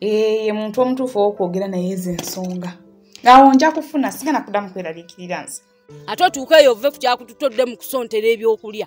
eh, ye muntu omutuufu owokwogera naye ezo ensonga awo nja kufuna sigana kudamu kweraliikirira nze ate otuuka eyo ove ku kyakututa odde mu kusontera ebyokulya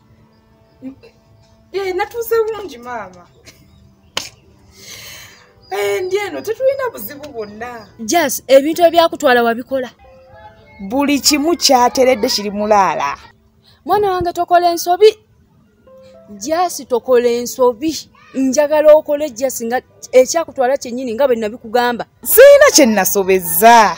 Eh, natuuse bulungi maama eh, ndi eno tetulina buzibu bwonna jas ebintu ebyakutwala wabikola buli kimu kyateredde kiri mulaala mwana wange tokola ensobi jas tokola ensobi njagala okole jas nga ekyakutwala kyennyini nga bwe nabikugamba sirina kye nasobezza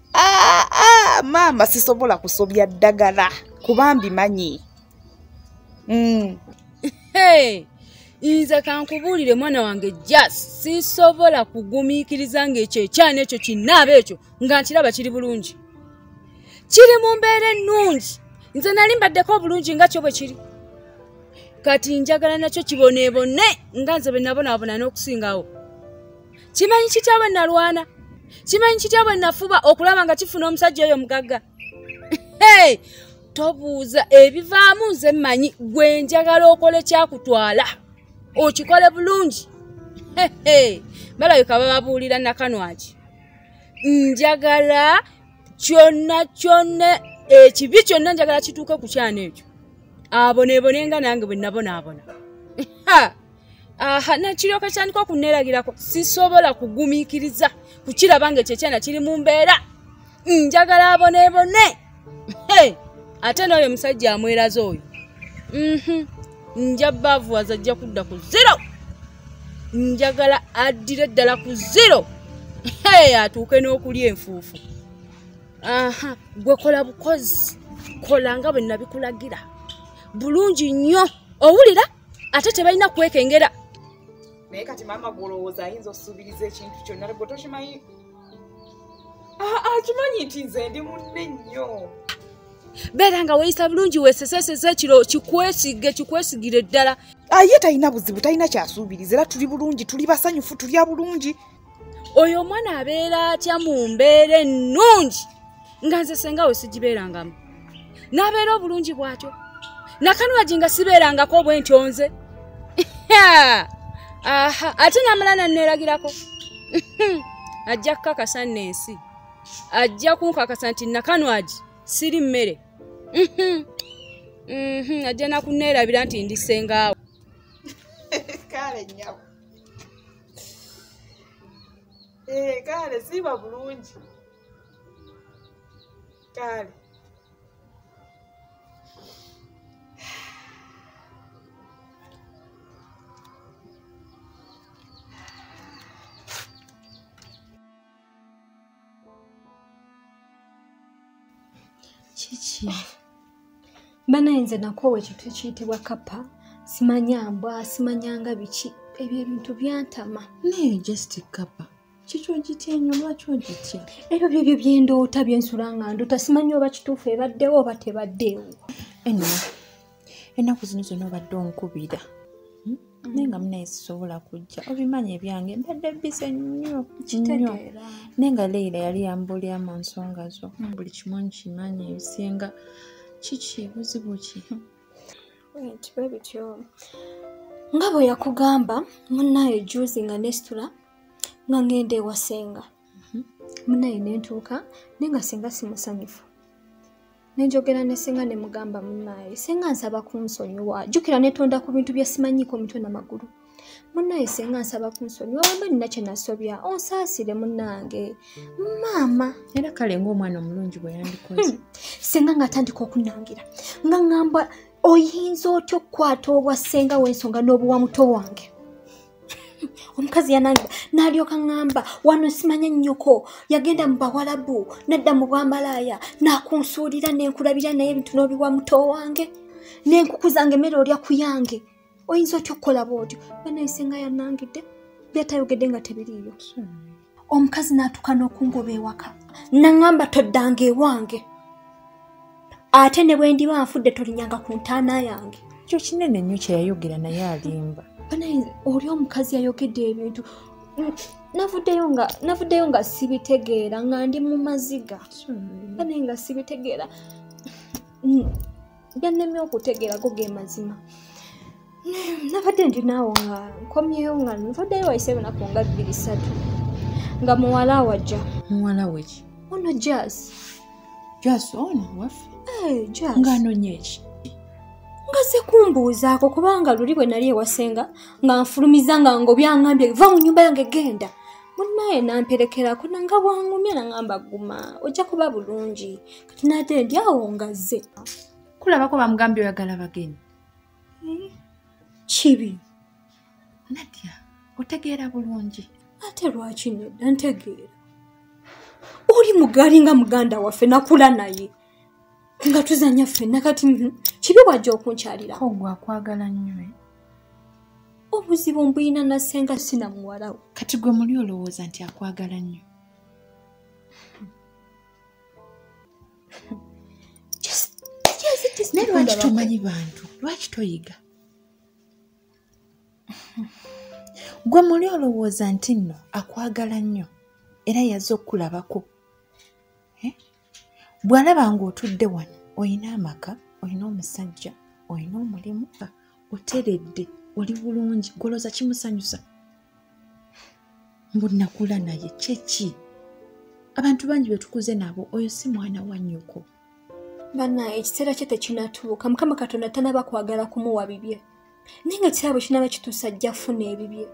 Ah, ah, maama sisobola kusobya ddagala kuba mbimanyi mm. hey, nze kankubuulire mwana wange jas sisobola kugumiikiriza ngaekyo ekyana ekyo kinaaba ekyo nga nkiraba kiri bulungi kiri mu mbeera ennungi nze nali mbaddeko obulungi nga kyo bwe kiri kati njagala nakyo kiboneebone nga nze bwe nabonaabona n'okusingawo kimanyi kitya bwe nalwana kimanyi kitya bwe nafuba okulaba nga kifuna omusajja oyo mugagga tobuuza ebivaamu nze mmanyi gwe njagala okole kyakutwala okikole bulungi balabika bababuulira nakanwaki njagala kyonna kyonna ekibi kyonna njagala kituuke ku kyana ekyo abonebone nga nange bwe nabonaabona aha nakiryoka kyandika okunneeragirako sisobola kugumiikiriza kukiraba nga ekyo ekyana kiri mu mbeera njagala abonebone ate n'oyo omusajja amweraza oyo mhm. nja baavuwaza ajja kudda ku zero njagala addire ddala ku zero atuuke n'okulya enfuufu aha gwe kola bukozi kola nga bwe nabikulagira bulungi nnyo owulira ate tebalina kwekengera naye kati maama gwolowooza ayinza osuubiriza ekintu kyonna lgwe tokimanyi akimanyi nti nze ndi munne nnyo beera nga weyisa bulungi weseseseza ekiro kikwesige kikwesigire ddala aye talina buzibu talina kyasuubiriza era tuli bulungi tuli basanyufu tulya bulungi oyo omwana abeera atya mu mbeera ennungi nga nze senga we sigibeerangamu n'abeera obulungi bwatyo nakanwagi nga sibeerangako obwentyo nze ate namala nanneeragirako ajja kukakasa nno ensi ajja kunkakasa nti nakanwagi siri mmere ajja nakunneerabira nti ndi sengaawo ee eh, kale siiba bulungi kale kiki banaye nze nakoowa ekintu ekiyitibwa kapa simanya mbwa simanyanga biki ebyo ebintu byantama naye just kapa kiki ogitya enyo lwaki ogitya ebyo byebyo byendoota byensula nga ndoota simanya oba kituufu ebaddewo oba tebaddeewo anyway. ennaku zino zona obadde onkubira hmm? mm. naye nga munaye sisobola kujja obimanyi ebyange mbadde bize nnyo nnyo naye nga leira yali yambuulira mu nsonga zo mm. buli kimu nkimanyi ebisinga kiki buzibu ki bwe bityo nga bwe yakugamba munaye juzi nga nesitula nga ngenda ewasenga mhm. munaye nentuuka naye nga singa simusanyufu nenjogera ne senga ne mugamba munaye senga nsaba kunsonyiwa jukira netonda ku bintu bye simanyiiko mitwe na magulu munaye senga nsaba kunsonyiwa wemba nina kye nasobya onsaasire munange maama era kale ngaomwana omulungi bwe yandikoze hmm. senga ngaatandika okunangira nga ngamba oyinza otya okukwata obwa senga w'ensonga n'obuwa muto wange omukazi yanangiba nalyoka ngamba wano simanya nnyoko yagenda mu bawalabu nadda mu bwamalaaya nakunsuulira nenkulabira naye ebintu nobiwa muto wange nenkukuzanga emere olya ku yange oyinza otya okukola bwotyo banayisenga yanangidde byatayogedde nga tebiriiyo omukazi n'atuuka n'okungoba ewaka naŋamba toddanga ewange ate ne bwe ndiba nfudde tolinyanga ku ntaana yange ekyo kinene nnyo kye yayogera naye alimba banaye oli omukazi yayogedde ebintu navuddeyo nga navuddeyo nga sibitegeera nga ndi mu maziga banaye nga sibitegeera byannemye okutegeerako ge mazima nabadde ndi naawo nga nkomyewo nga nvaddeyo wayise enaku nga bbiri satu nga muwala wajja muwala weki ono jas jas ono waffe eh, jas nga anonye eki ngaze kumbuuzaako kubanga luli bwe nali ewasenga nga nfulumiza nga ngobyangambye va mu nyumba yange genda munaye namperekerako nanga bwangumya nangamba guma ojja kuba bulungi nade ndi awo ngazze kulabako bamugambye oyagala bagenyi eh, kibi nadya otegeera bulungi ate lwaki nedda ntegeera oli mugaali nga muganda waffe nakula naye nga tuzanya ffenna kati mhm, kibi wajja okunkyalira ogwo akwagala nnyo eh? obuzibu mbuyina nasenga sina muwalawo kati gwe muli olowooza nti akwagala nnyo naye lwaki tomanyi bantu lwaki toyiga gwe muli olowooza nti nno akwagala nnyo era yaze okukulabako eh? bw'alaba ng'otudde wano olina amaka olina omusajja olina omulimu oteredde oli bulungi goloza kimusanyusa mbu nakula naye kyeki abantu bangi betukuze nabo oyo si mwana wa nyoko bana ekiseera kye tekinatuuka mukama katonda tanaba kwagala kumuwa bibye naye nga ekiseera bwe kinaba kituusa ajja funa ebibye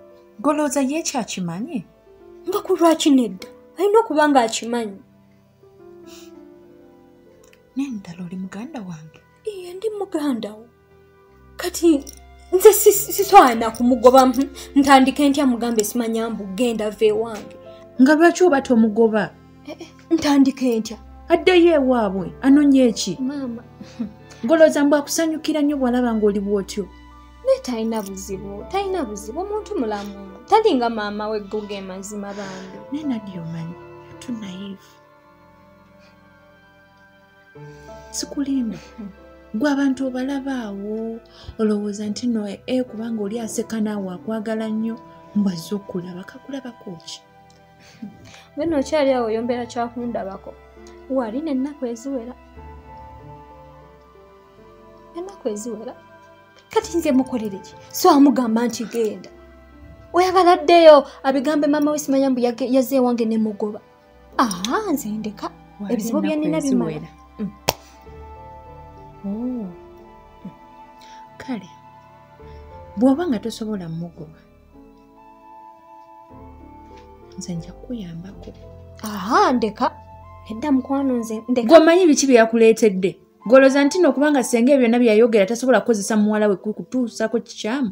golooza ye ekyo akimanyi nga ku lwaki nedda alina okuba nga akimanyi naye ddala oli muganda wange iye ndi muganda wo kati nze siswana kumugoba ntandike ntya mugambe simanya mbu genda va ewange nga lwaki oba tomugoba eh, eh, ntandike ntya addeyo ewaabwe anonye eki maama ngolooza mbu akusanyukira nnyo bwalaba ng'oli bwotyo naye talina buzibu talina buzibu omuntu mulamu talinga maama we goga emazima bambi naye nadiomanyi tunaive sikulimba gwe abantu obalaba awo olowooza nti no e eh, kubanga oli aseka naawe akwagala nnyo mbwazze okulaba kakulabako ki wena okyali awo oyombeera kyakundabako wali nennaku eziwera ennaku eziwera kati nze mukolere ki so amugamba nti genda oyagala ddeyo abigambe maama we simanya mbu yazze ewange nemugoba ah, nze ndeka ebizibu byenina bimala mm. oh. kale bw'oba nga tosobola mugoba nze nja kukuyambako aha ndeka edda mukwano nze ndeka gwomanyi biki bye yakuleetedde goloza nti no kubanga senga ebyonna byeyayogera tasobola kukozesa muwala we kukutuusako kikyamu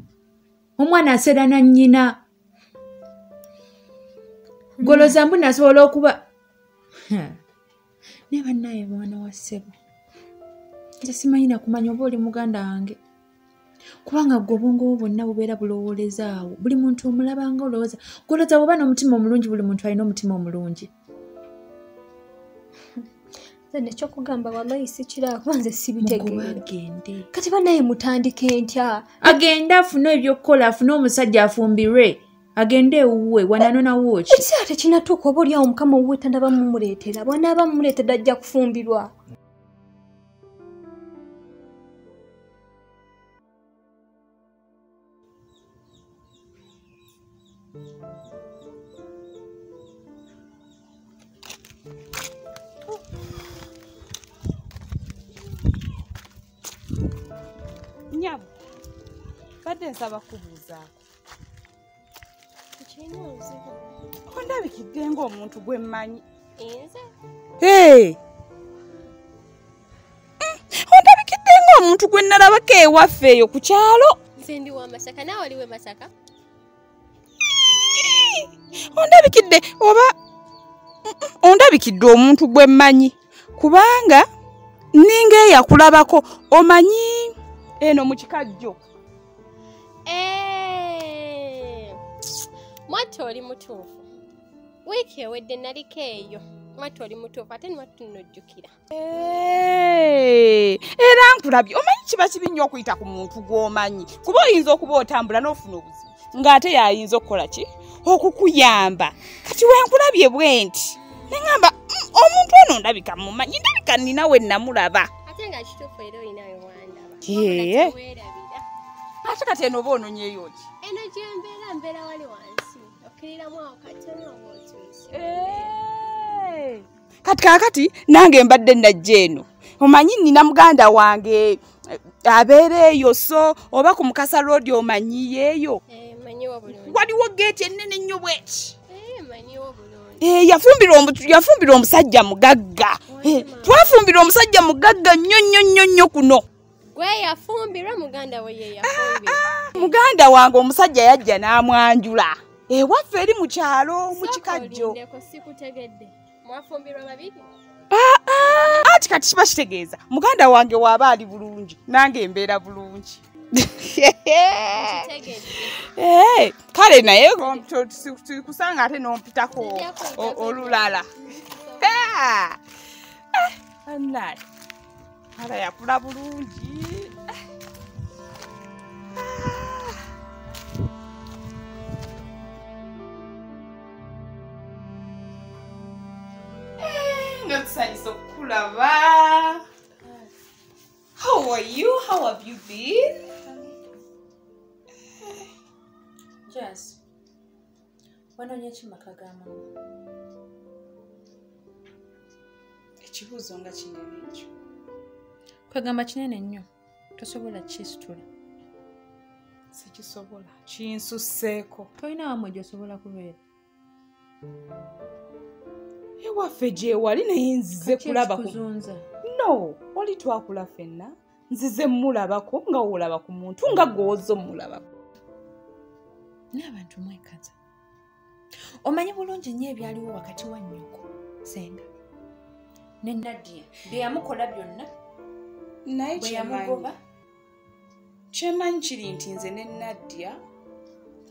omwana aserana nnyina goloza mbu nasobola okuba naye bannaye mwana wa ssebo nze simanyi nakumanya oba oli muganda wange kubanga gwe obwongo bwo bwonna bubeera bulowoolezaawo buli muntu omulabanga olowooza goloza bwoba n'omutima omulungi buli muntu alina omutima omulungi nekyokugamba walayi sikirakuba nze sibitegeagende kati banaye mutandika entya agende afune ebyokukola afune omusajja afumbirwe agende ewuwe wananonawoki ekiseera tekinatuuka oba olyawo mukama owuwe tandaba mumuleetera bwanaaba mumuleetera ajja kufumbirwa nyabo mbadde nsaba kubuuzaako ondabikidde ngaomuntu gwe mmanyi ondabikidde ngaomuntu gwe nalabako ewaffe eyo ku kyalo ondabikidde oba ondabikidde omuntu gwe mmanyi kubanga ninga eyakulabako omanyi eno mu kikajjo Eh! mwattu oli mutuufu wiiki ewedde naliko eyo mwattu oli mutuufu ate nwattu nnojjukira eh! era nkulabye omanyi kiba kibi nnyo okuyita ku muntu gw'omanyi kuba oyinza okuba otambula n'ofuna obuzibu ng'ate yayinza okukola ki okukuyamba kati wenkulabye bwe nti neŋamba mm, omuntu ono ndabika mumanyi ndabika nina we namulaba ate nga kituufu era olinayo yee ate kati eno oba ononyeyo ki eno gyembeera mbeera wali wansi okkiriramu awo katona oba otuuse kati kakati nange mbadde najja eno omanyi nina muganda wange eh, abeera eyo so oba ku mukasa roodi omanyiyeeyo eh, waliwo geeti ennene nnyo bweki Eh, yafumbirwa omusajja mugagga eh, twafumbirwa omusajja mugagga nnyo nnyo nnyo nnyo kuno ah, ah, muganda wange omusajja yajja n'amwanjula ewaffe eh, eri mu kyalo mu kikajjo Ah, ah. anti kati kiba kitegeeza muganda wange waaba ali bulungi nange embeera bulungi eh, kale naye tulikusanga ate nompitako olulala ah. kala yakula bulungi tusanyusa okukulaba how are you how have you been yes wanonye ki maka ga mama ekibuuzo nga kinene ekyo kwegamba kinene nnyo tosobola kisitula sikisobola kinsusseeko tolina wamwe gyosobola kubeera ewaffe gyewali naye nzize kulaba no oli twakula fenna nzize mulabako nga wolaba ku muntu nga gwoza omulabako naye abantu mwekaza omanyi bulungi nnyo ebyaliwo wakati wa nyoko senga ne nadia byeyamukola byonna naye kyeyamugoba kyemanyi kiri nti nze ne nadia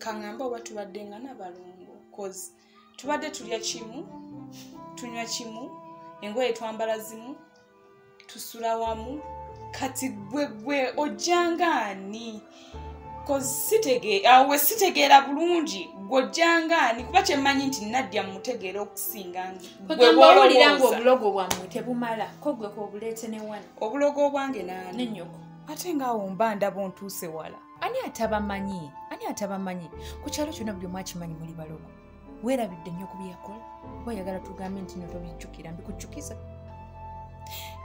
kaŋamba oba tubadde nga nabalongo cause tubadde tulya kimu tunywa kimu engoye twambala zimu tusula wamu kati gwe gwe ojjanga ani awo we sitegeera bulungi gwojjanga ani kuba kyemmanyi nti naddya mumutegeera okusinga ngewawulira nga obulogo bwammwe tebumala ko gwe kobuleete ne wani obulogo obwange nani nenyoko ate ngaawo mba ndaba ontuuse wala ani atabamanyi ani atabamanyi ku kyalo kyona buli omwakimanyi muli balogo werabidde nnyo ku byeyakola oba oyagala tugambe nti no tobijjukira mbikujjukiza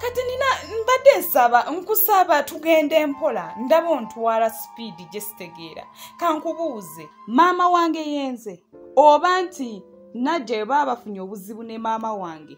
kati nina mbadde nsaba nkusaba tugenda empola ndaba ontwala sipiidi gye sitegeera kankubuuze maama wange yenze oba nti najja eba bafunye obuzibu ne maama wange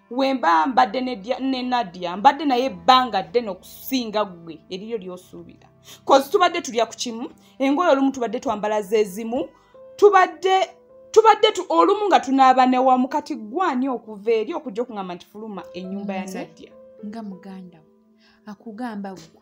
wemba mbadde ne nadia mbadde naye ebbanga ddene okusinga ggwe eriryo lyosuubira kozi tubadde tulya ku kimu engoyo olumu tubadde twambala zezimu tubadde tubadde olumu nga tunaaba newamu kati gwani okuva eri okujja okungamba nti fuluma enyumba ya nadia nga muganda akugamba gwe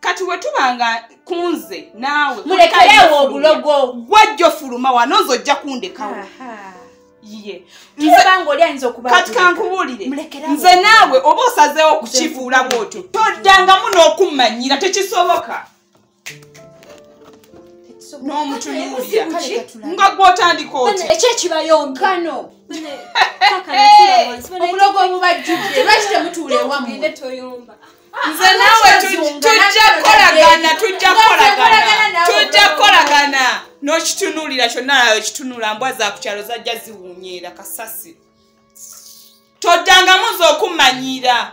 kati wetuba nga kunze naawe mulekerewo obulogo gwajjo fuluma wanozo ojja kundekawo kati kankubuulire nze naawe oba osazeewo okukifuula bwotyo toddangamu n'okummanyira tekisoboka n'omutunuulira nga gwotandika oti ekyo ekibayonkano obulogo obubajjudde lwaki temutuula ewamu nze naawe tujja kukolagana tujja kukolagana tujja kukolagana n'okitunuulira kyonna nayo kitunula mbwa za ku kyalo zajja ziwunyeera kasasi toddangamu ze okumanyiira